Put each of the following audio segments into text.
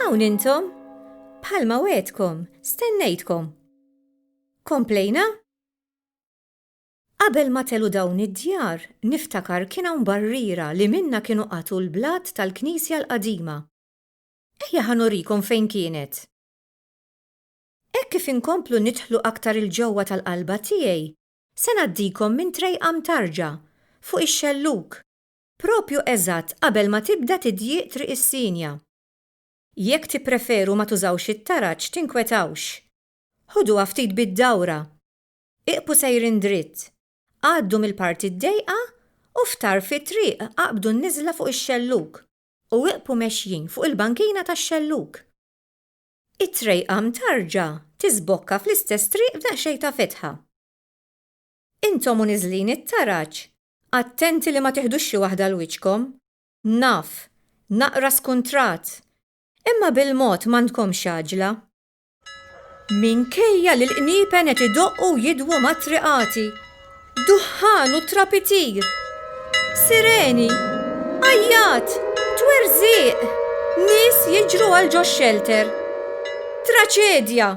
Hawn intom? Bħalma wegħedkom, stennejtkom. Komplejna? Qabel ma telu dawn id-djar, niftakar kien hawn barriera li minnha kienu qatgħu l-blat tal-knisja l-qadima. Ejja ħa nurikom fejn kienet. Hekk kif inkomplu nidħlu aktar il-ġewwa tal-qalba tiegħi, se ngħaddikom minn trejqa mtarġa fuq ix-xellug propju eżatt qabel ma tibda tidjieq Triq is-Sinja. Jekk tippreferu ma tużawx it-taraġ tinkwetawx. Ħuduha ftit bid-dawra. Iqbqu sejrin dritt. Għaddu mill-parti d-dejqa u f'tarf it-triq aqbdu n-niżla fuq ix-xellug u iqbqu mexjin fuq il-bankina tax-xellug. It-trejqa mtarrġa tiżbokka fl-istess triq b'daqsxejn ta' fetħa. Intom u niżlin it-taraġ, attenti li ma tiħdux xi waħda 'l wiċċkom. Naf, naqra skuntrat! Imma bil-mod m'għandkomx għaġla. Minkejja li l-qniepen qed idoqqu u jidwu mat-triqati. Duħħan u trapitir! Sireni! Għajjat! Twerżiq! Nies jiġru għal ġox-xelter. Traċedja!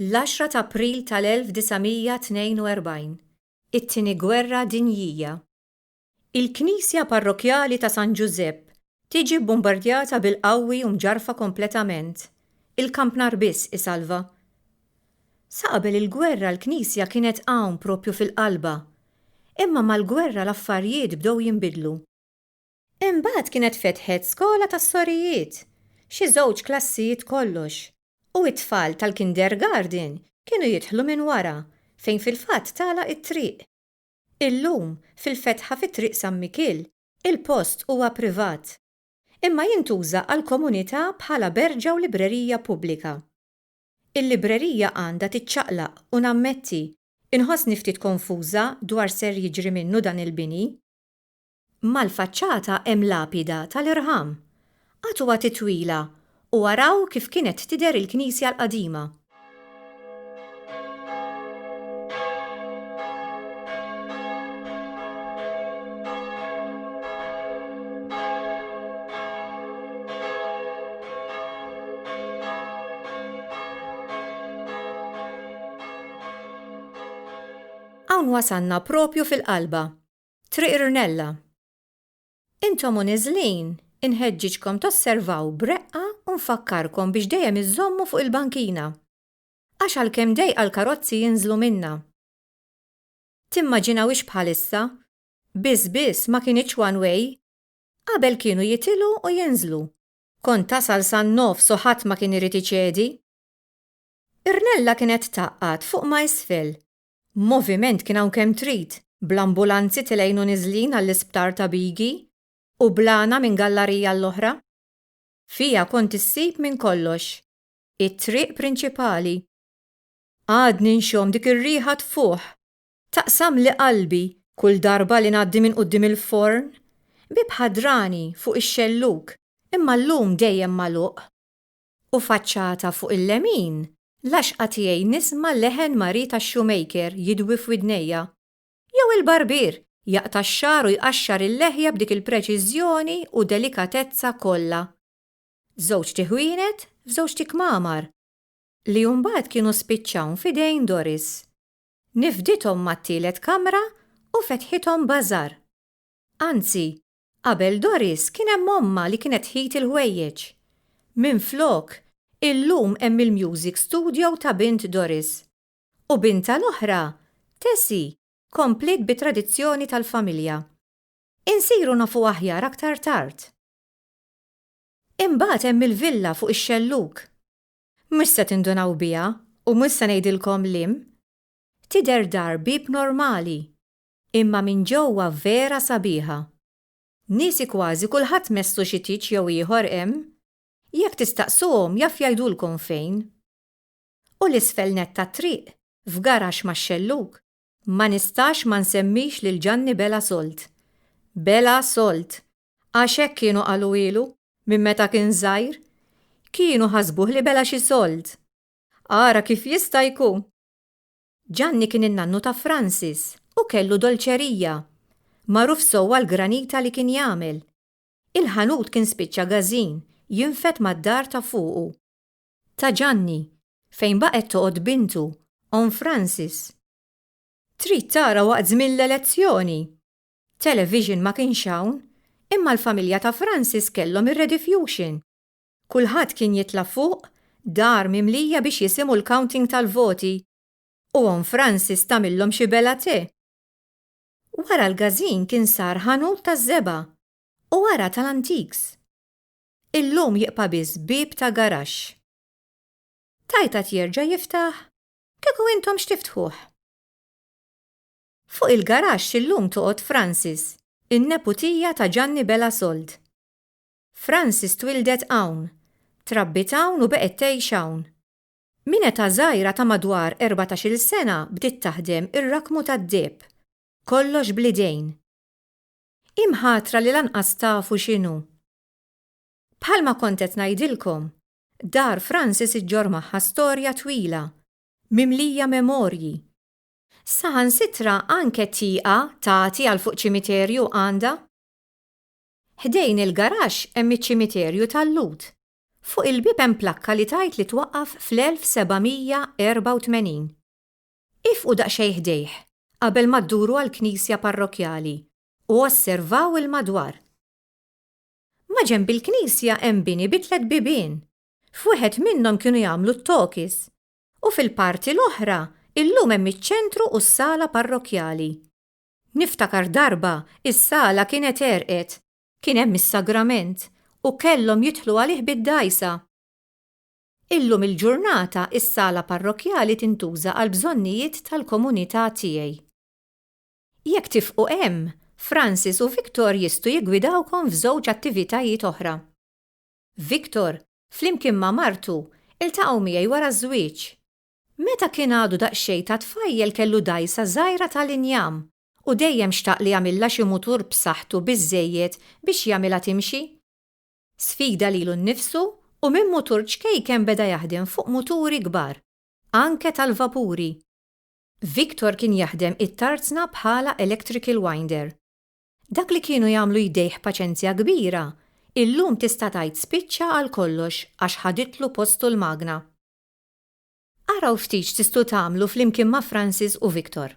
L-għaxra ta' April tal-1942, it-Tieni Gwerra Dinjija. Il-knisja parrokkjali ta' San Ġużepp tiġi bbumbardjata bil-qawwi u mġarrfa kompletament. Il-kampnar biss isalva. Sa qabel il-gwerra l-knisja kienet hawn proprju fil-qalba. Imma mal-gwerra l-affarjiet bdew jinbidlu. Imbagħad kienet fetħet skola tas-sorijiet, xi żewġ klassijiet kollox, u t-tfal tal-kindergarten kienu jidħlu minn wara fejn fil-fatt tagħlaq it-triq. Illum, fil-fetħa fi Triq San Mikiel, il-post huwa privat, imma jintuża għall-komunità bħala berġa u librerija pubblika. Il-librerija għandha tiċċaqlaq u nammetti, inħossni ftit konfuża dwar ser jiġri minnu dan il-bini. Mal-faċċata hemm lapida tal-irħam. Agħtu agħti twila u araw kif kienet tidher il-knisja l-qadima. Hawn wasalna propju fil-qalba. Triq Rnella. Intom u niżlin, inħeġġiġkom tosservaw b'reqqa u nfakkarkom biex dejjem iżżommu fuq il-bankina. Għax għalkemm dejqa l-karozzi jinżlu minnha. Timmaġinawhiex bħalissa, biss biss ma kinitx one way. Qabel kienu jitilgħu u jinżlu. Kont tasal san-nofs u ħadd ma kien irid iċedi. Rnella kienet tgħaqqad fuq ma' isfel Moviment kien hawn kemm trid, bl-ambulanzi tilgħin u niżlin għall-isptar ta' Bigi u bl-għana minn gallarija għall-oħra. Fiha kont issib minn kollox. It-triq prinċipali. Għadni nxomm dik ir-riħa tfuħ. Taqsamli qalbi kull darba li ngħaddi minn quddiem il-forn. Bieb ħadrani fuq ix-xellug, imma llum dejjem magħluq. U faċċata fuq il-lemin, l-għaxqa tiegħi nisma' leħen mari tax-shoemaker jidwi f'widnejja. Jew il-barbier jaqta' x-xagħar u jqaxxar il-leħja b'dik il-preċiżjoni u delikatezza kollha. Żewġt tiħwienet f'żewġt tikmamar, li mbagħad kienu spiċċawn f'idejn Doris. Nifdithom mat-tielet kamra u fetħithom b'għażar. Anzi, Qabel Doris kien hemm ommha li kienet tħit il-ħwejjeġ. Minflok, illum hemm il-music studio ta' bint Doris. U bintha l-oħra, Tessie, kompliet bit-tradizzjoni tal-familja. Insiru nafu aħjar aktar tard. Imbagħad hemm il-villa fuq ix-xellug. Mhux se tindunaw biha u mhux se ngħidilkom l-im. Tidher dar bieb normali. Imma minn ġewwa vera sabiħa. Niesi kważi kulħadd messlu xi tieġ jew ieħor hemm. Jekk tistaqsuhom jaf jgħidulkom fejn. U 'l isfel nett tat-triq, f'garaxx max-xellug, ma nistax ma nsemmix lil Ġanni Bela Solt. Bela Solt! Għax hekk kienu qaluhielu minn meta kien żgħir. Kienu ħasbuh li bela xi solt. Ara kif jista' jkun! Ġanni kien in-nannu ta' Francis u kellu dolċerija, magħruf sew għall-granita li kien jagħmel. Il-ħanut kien spiċċa gażin, jinfed mad-dar ta' fuqu. Ta' Ġanni, fejn baqgħet toqgħod bintu, omm Francis. Trid tara waqt żmien l-elezzjoni! Television ma kienx hawn, imma l-familja ta' Francis kellhom ir-rediffusion. Kulħadd kien jitla' fuq dar mimlija biex jisimu l-counting tal-voti u Omm Francis tagħmillhom xi bella te. Wara l-gazin kien sar ħanut taż-żebgħa u wara tal-antiques. Illum jibqa' biss bieb ta' garaxx. Tajtat jerġa' jiftaħ? Kieku intom x'tiftħuh? Fuq il-garaxx illum toqgħod Francis, in-neputija ta' Ġanni Bela Sold. Frances twildet hawn, trabbiet hawn u beqgħet tgħix hawn. Minn età żgħira ta' madwar erbatax-il sena bdiet taħdem ir-rakkmu tad-deheb, kollox bl-idejn. Hi mħatra li lanqas tafu x'inhu. Bħalma kont qed ngħidilkom, dar Frances iġġorr magħha storja twila, mimlija memorji. Saħansitra anke tieqa tagħti għal fuq ċimiterju għandha. Ħdejn il-garaxx hemm iċ-ċimiterju tal-Lhud. Fuq il-bieb hemm plakka li tgħid li twaqqaf fl-1784. Iefqu daqsxejn ħdejh qabel ma dduru għall-knisja parrokkjali u osservaw il-madwar. Maġenb il-knisja hemm bini bi tliet bibien. F'wieħed minnhom kienu jagħmlu t-tokis u fil-parti l-oħra illum hemm iċ-ċentru u s-sala parrokkjali. Niftakar darba is-sala kienet għerqet, kien hemm is-sagrament u kellhom jidħlu għalih bid-dgħajsa. Illum il-ġurnata s-sala parrokkjali tintuża għall-bżonnijiet tal-komunità tiegħi. Jekk tifqu hemm, Francis u Victor jistgħu jiggwidawkom f'żewġ attivitajiet oħra. Victor, flimkien ma' martu, iltaqgħu miegħi wara ż-żwieġ. Meta kien għadu daqsxejn ta' tfajjel kellu dgħajsa żgħira tal-injam u dejjem xtaq li jagħmilha xi mutur b'saħħtu biżżejjed biex jagħmilha timxi. Sfida lilu nnifsu u minn mutur ċkejken beda jaħdem fuq muturi kbar, anke tal-vapuri. Victor kien jaħdem it-tarzna bħala electrical winder. Dak li kienu jagħmlu jdejh b'paċenzja kbira, illum tista' tgħid spiċċa għal kollox għax ħaditlu postu l-magna. Araw ftit x'tistgħu tagħmlu flimkien ma' Francis u Victor.